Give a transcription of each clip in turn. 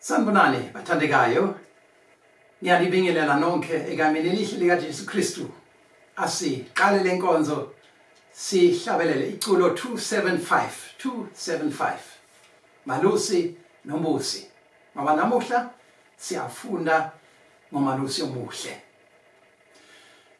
Sanibonani bathandekayo. Ngiyanibingelela nonke egameni elihle lika Jesu Kristu. Asiqale lenkonzo sihlabelele iculo 275 275 Malusi noMbusi. Ngoba namuhla siyafunda ngoMalusi omuhle.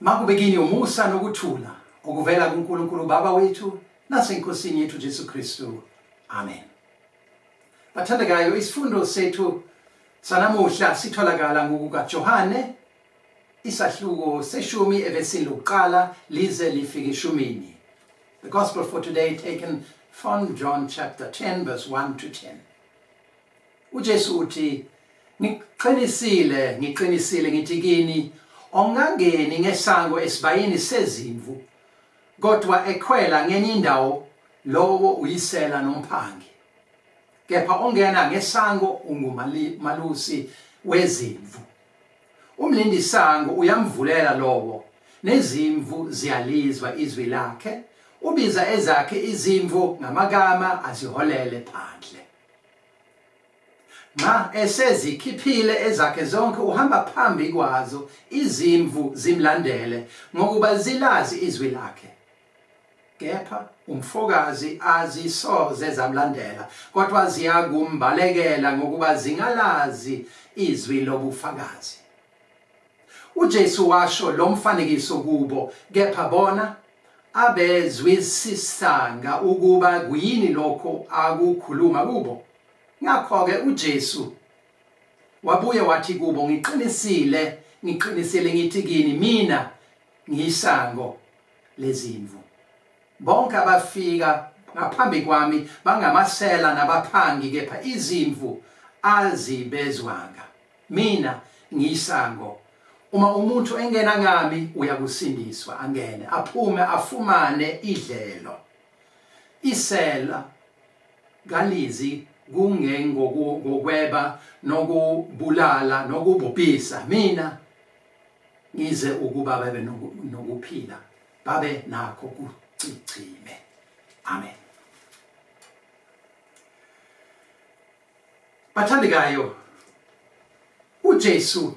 Makube kini umusa nokuthula okuvela kuNkulunkulu Baba wethu naseNkosini yethu Jesu Kristu. Amen. Bathandekayo, isifundo sethu sanamuhla sitholakala ngokukaJohane isahluko seshumi evesini lokuqala lize lifike eshumini. The gospel for today taken from John chapter 10 verse 1 to 10. uJesu uthi ngiqinisile ngiqinisile ngithi kini ongangeni ngesango esibayini sezimvu kodwa ekhwela ngenye indawo lowo uyisela nomphangi kepha ongena ngesango ungumalusi wezimvu umlindi sango uyamvulela lowo nezimvu ziyalizwa izwi lakhe ubiza ezakhe izimvu ngamagama aziholele phandle ma esezikhiphile ezakhe zonke uhamba phambi kwazo izimvu zimlandele ngokuba zilazi izwi lakhe kepha umfokazi azisoze zamlandela kodwa ziyakumbalekela ngokuba zingalazi izwi lobufakazi UJesu washo lo mfanekiso kubo, kepha bona abezwisisanga ukuba kuyini lokho akukhuluma kubo. Ngakho-ke uJesu wabuye wathi kubo, Ngiqinisile, ngiqinisile ngithi kini, mina ngiyisango lezimvu. Bonke abafika ngaphambi kwami bangamasela nabaphangi, kepha izimvu azibezwanga. mina ngiyisango uma umuntu engena ngami uyakusindiswa angene aphume afumane idlelo isela kalizi kungengokweba nokubulala nokubhubhisa mina ngize ukuba babe nokuphila babe nakho kucicime amen Bathandekayo, uJesu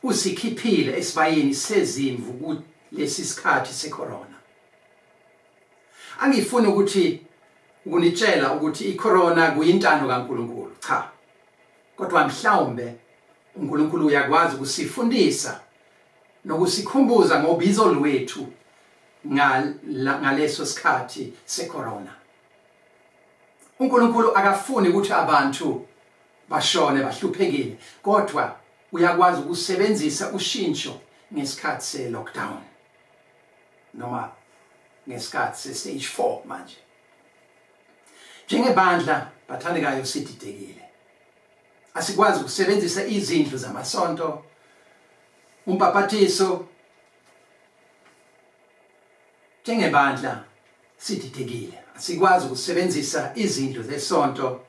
usikhiphile esibayeni sezimvu kulesi sikhathi secorona. Angifuni ukuthi ukunitshela ukuthi icorona kuyintando kaNkuluNkulu, cha. Kodwa mhlawumbe uNkuluNkulu uyakwazi ukusifundisa nokusikhumbuza ngobizo lwethu ngaleso sikhathi secorona. uNkulunkulu akafuni ukuthi abantu bashone bahluphekile kodwa uyakwazi ukusebenzisa ushintsho ngesikhathi se lockdown noma ngesikhathi se stage 4 manje njengebandla bathandekayo sididekile asikwazi ukusebenzisa izindlu zamasonto umpapathiso Njengebandla sididekile, asikwazi ukusebenzisa izindlu zesonto,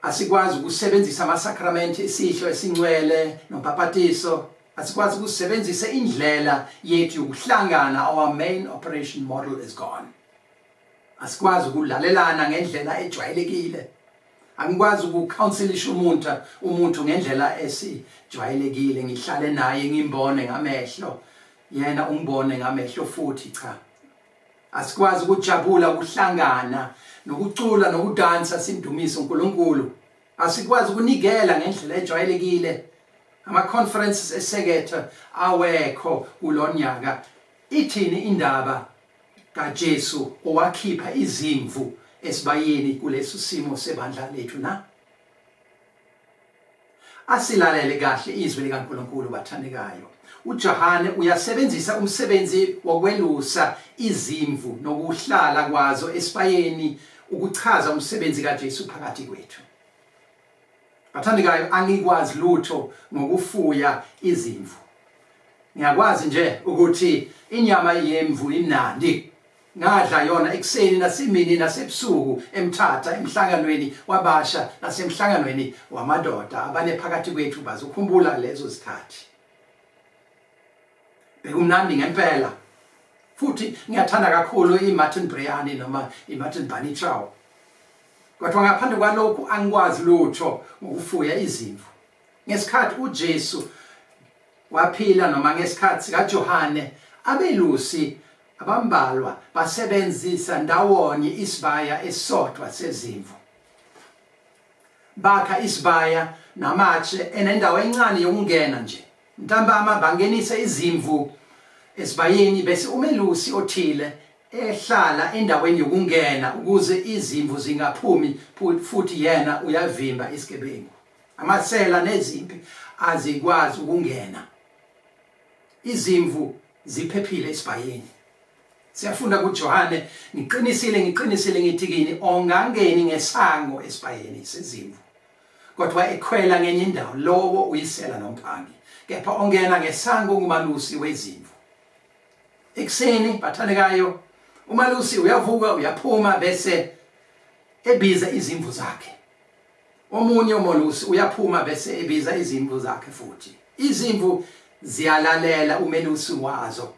asikwazi ukusebenzisa amasakramente isihlo esincwele nobhapatiso, asikwazi ukusebenzisa indlela yethu yokuhlangana, our main operation model is gone. Asikwazi ukulalelana ngendlela ejwayelekile. angikwazi ukucounselisha umuntu umuntu ngendlela esijwayelekile ngihlale naye ngimbone ngamehlo yena umbone ngamehlo futhi cha asikwazi ukujabula ukuhlangana nokucula nokudansa sindumise uNkulunkulu asikwazi ukunikela ngendlela ejwayelekile ama conferences esekethe awekho kulonyaka ithini indaba kaJesu owakhipha izimvu esibayeni kuleso simo sebandla lethu na Asilalele kahle izwi likaNkulunkulu bathandekayo. UJohane uyasebenzisa umsebenzi wokwelusa izimvu nokuhlala kwazo esibayeni ukuchaza umsebenzi kaJesu phakathi kwethu. Bathandekayo angikwazi lutho ngokufuya izimvu. Ngiyakwazi nje ukuthi inyama yemvu inandi. Ngadla yona ekuseni nasimini nasebusuku emthatha emhlanganweni wabasha nasemhlanganweni wamadoda abane phakathi kwethu bazukhumbula lezo zikhathi. Bekumnandi ngempela. Futhi ngiyathanda kakhulu iMartin Briani noma iMartin Bunny Chow. Kodwa ngaphandle kwalokhu angikwazi lutho ngokufuya izimvu. Ngesikhathi uJesu waphila noma ngesikhathi sikaJohane abelusi abambalwa basebenzisa ndawonye isibaya esisodwa sezimvu bakha isibaya namatshe enendawo encane yokungena nje ntambama bangenise izimvu esibayeni bese umelusi othile ehlala endaweni yokungena ukuze izimvu zingaphumi futhi yena uyavimba isigebengu amasela nezimpi azikwazi ukungena izimvu ziphephile esibhayini siyafunda kuJohane ngiqinisile ngiqinisile ngithi kini ongangeni ngesango esibhayini sezimvu kodwa ekhwela ngenye indawo lowo uyisela nomphangi kepha ongena ngesango ngumalusi wezimvu ekuseni bathandekayo umalusi uyavuka uyaphuma bese ebiza izimvu zakhe omunye umolusi uyaphuma bese ebiza izimvu zakhe futhi izimvu ziyalalela umelusi wazo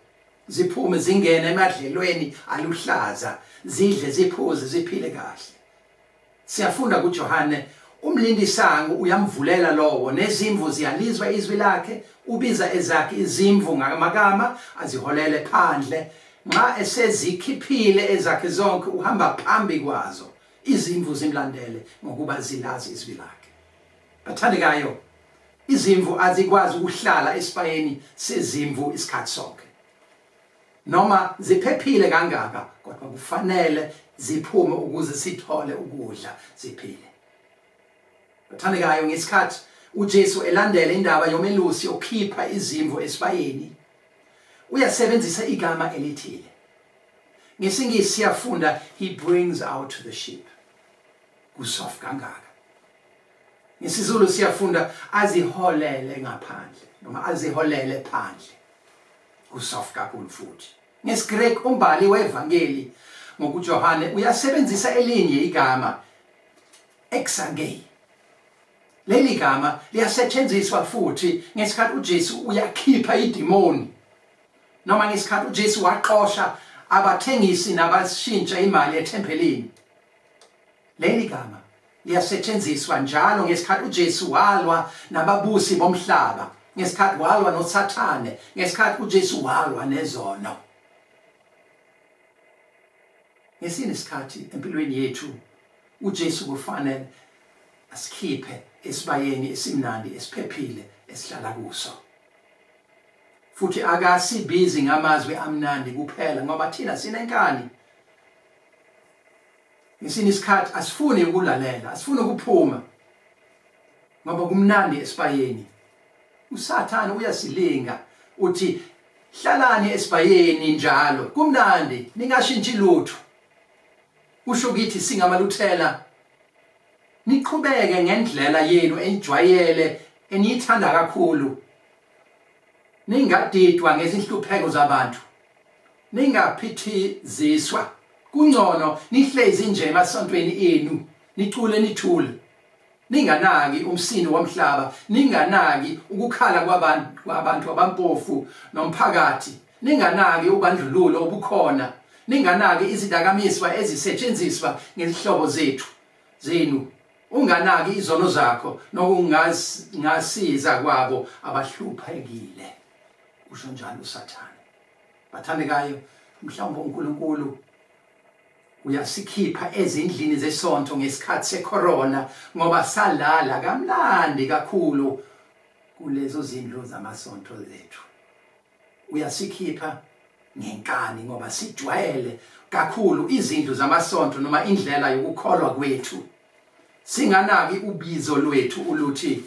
ziphume zingene emadlelweni aluhlaza zidle ziphuze ziphile kahle siyafunda kuJohane umlindisango uyamvulela lowo nezimvu ziyalizwa izwi lakhe ubiza ezakhe izimvu ngamakama aziholele phandle nxa esezikhiphile ezakhe zonke uhamba phambi kwazo Izimvu zimlandele ngokuba zilazi izwi lakhe. Bathandekayo, izimvu azikwazi ukuhlala esibayeni sezimvu isikhathi sonke. Noma ziphephile kangaka kodwa kufanele ziphume ukuze sithole ukudla ziphile. Bathandekayo, ngesikhathi uJesu elandela indaba yomelusi okhipha izimvu esibayeni uyasebenzisa igama elithile. ngesingisi siyafunda he brings out the sheep kusoft kangaka ngesizulu siyafunda aziholele ngaphandle noma aziholele phandle kusoft kakhulu futhi ngesigreki umbali wevangeli ngokujohane uyasebenzisa elinye igama exangei leli gama liyasetshenziswa futhi ngesikhathi uJesu uyakhipha idemoni noma ngesikhathi uJesu waxosha abathengisi nabashintsha imali ethempelini leli gama liyasetshenziswa njalo ngesikhathi uJesu walwa nababusi bomhlaba ngesikhathi walwa noSathane ngesikhathi uJesu walwa nezono ngesini isikhathi empilweni yethu uJesu kufanele asikhiphe esibayeni esimnandi esiphephile esihlala kuso futhi akasibizi ngamazwi amnandi kuphela ngoba thina sinenkani ngesinye isikhathi asifuni ukulalela asifuni ukuphuma ngoba kumnandi esibayeni usathane uyasilinga uthi hlalani esibayeni njalo kumnandi ningashintshi lutho kusho ukuthi singamaluthela niqhubeke ngendlela yenu enijwayele eniyithanda kakhulu ningadidwa ngezinhlupheko zabantu ningaphithiziswa kungcono nihlezi nje emasontweni enu nicule nithule ninganaki umsini womhlaba ninganaki ukukhala kwabantu kwabantu abampofu nomphakathi ninganaki ubandlululo obukhona ninganaki izidakamiswa ezisetshenziswa ngezihlobo zethu zenu unganaki izono zakho nokungasiza kwabo abahluphekile usho njalo usathane bathandekayo mhlawumbe uNkulunkulu uyasikhipha ezindlini zesonto ngesikhathi secorona ngoba salala kamnandi kakhulu kulezo zindlu zamasonto zethu uyasikhipha ngenkani ngoba sijwayele kakhulu izindlu zamasonto noma indlela yokukholwa kwethu singanaki ubizo lwethu uluthi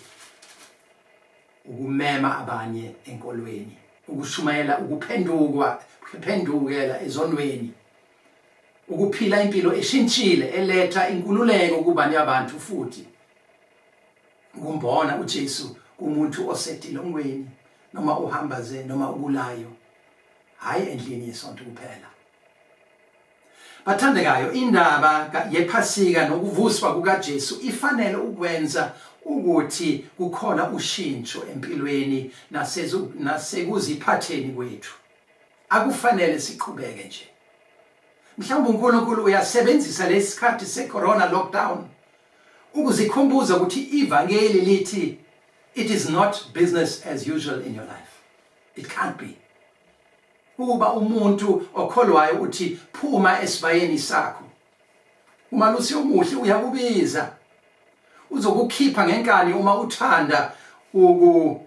ukumema abanye enkolweni ukushumayela ukuphendukwa kuphendukela ezonweni ukuphila impilo eshintshile eletha inkululeko kubanye abantu futhi ukumbona uJesu kumuntu osetilongweni noma uhamba ze noma ukulayo hayi endlini yesonto kuphela bathandekayo indaba yephasika nokuvuswa kukaJesu ifanele ukwenza ukuthi kukhona ushintsho empilweni nasekuziphatheni kwethu akufanele siqhubeke nje mhlawumbe uNkulunkulu uyasebenzisa lesikhathi secorona lockdown Ukuzikhumbuza ukuthi ivangeli lithi it is not business as usual in your life. It can't be. Ukuba umuntu okholwayo uthi phuma esibayeni sakho. Uma lusi omuhle uyakubiza. Uzokukhipha ngenkani uma uthanda uku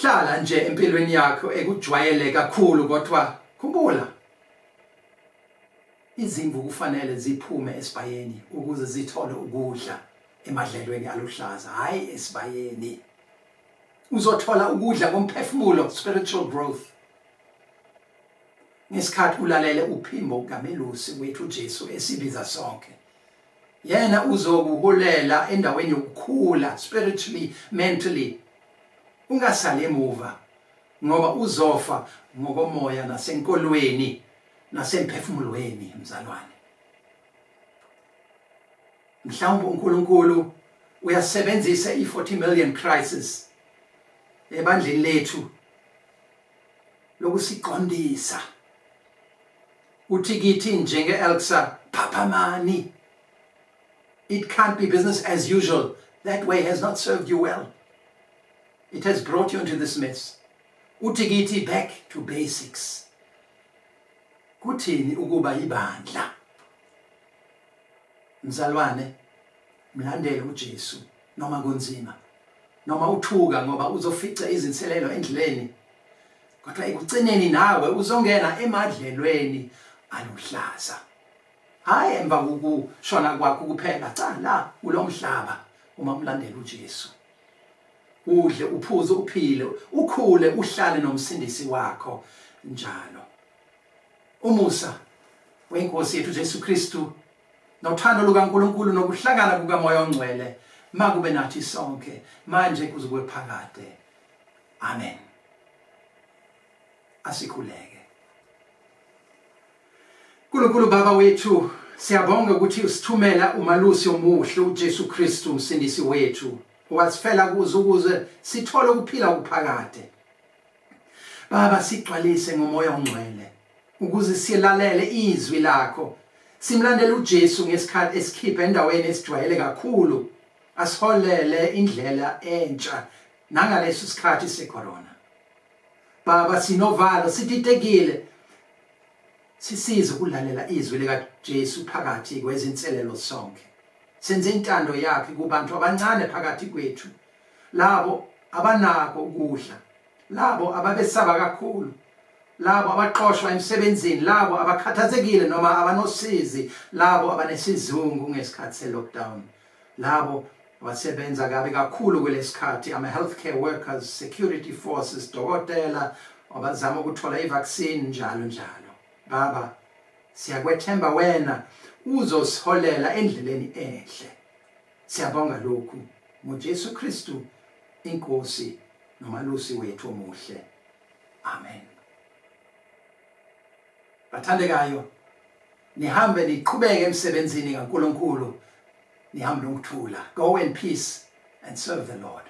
hlala nje empilweni yakho ekujwayele kakhulu kodwa khumbula Izimvu kufanele ziphume esibayeni ukuze zithole ukudla emadlelweni aluhlaza, hhayi esibayeni. Uzothola ukudla komphefumulo, spiritual growth, ngesikhathi ulalele uphimbo kamelusi wethu uJesu esibiza sonke yena uzokuholela endaweni yokukhula spiritually mentally ungasali emuva ngoba uzofa ngokomoya nasenkolweni nasemphefumulweni mzalwane mhlawumbe uNkulunkulu uyasebenzisa i40 million crisis ebandleni lethu lokusiqondisa uthi kithi njenge Elsa phaphamani it can't be business as usual that way has not served you well it has brought you into this mess Uthi kithi back to basics. Kuthini ukuba ibandla? Mzalwane, mlandele uJesu noma kunzima. Noma uthuka ngoba uzofica izinselelo endleleni. Kodwa ekugcineni nawe uzongena emadlelweni aluhlaza. Hayi emva kokushona kwakho kuphela, cha la kulomhlaba uma umlandela uJesu. udle uphuze uphile ukhule uhlale nomsindisi wakho njalo umusa wenkosi yethu Jesu Kristu nothando lukaNkulunkulu nokuhlangana kukamoya ongcwele makube nathi sonke manje kuze kube phakade amen asikhuleke Nkulunkulu Baba wethu siyabonga ukuthi usithumela umalusi omuhle uJesu Kristu umsindisi wethu wasifela kuze ukuze sithole ukuphila okuphakade Baba sigcwalise ngomoya ongcwele ukuze silalele izwi lakho simlandele uJesu ngesikhathi esikhipha endaweni esijwayele kakhulu asiholele indlela entsha nangaleso sikhathi secorona Baba sinovalo siditekile Sisize ukulalela izwi likaJesu phakathi kwezinselelo sonke. Senze intando yakhe kubantu abancane phakathi kwethu, labo abanako ukudla, labo ababesaba kakhulu, labo abaxoshwa emsebenzini, labo abakhathazekile noma abanosizi, labo abanesizungu ngesikhathi se-lockdown. Labo abasebenza kabi kakhulu kulesikhathi ama healthcare workers, security forces, dokotela abazama ukuthola ivaccine njalo njalo. Baba siyakwethemba wena uzosiholela endleleni enhle. Siyabonga lokhu ngoJesu Kristu inkosi nomalusi wethu omuhle. Amen. Bathandekayo nihambe niqhubeke emsebenzini kaNkulunkulu nihambe nokuthula go in peace and serve the Lord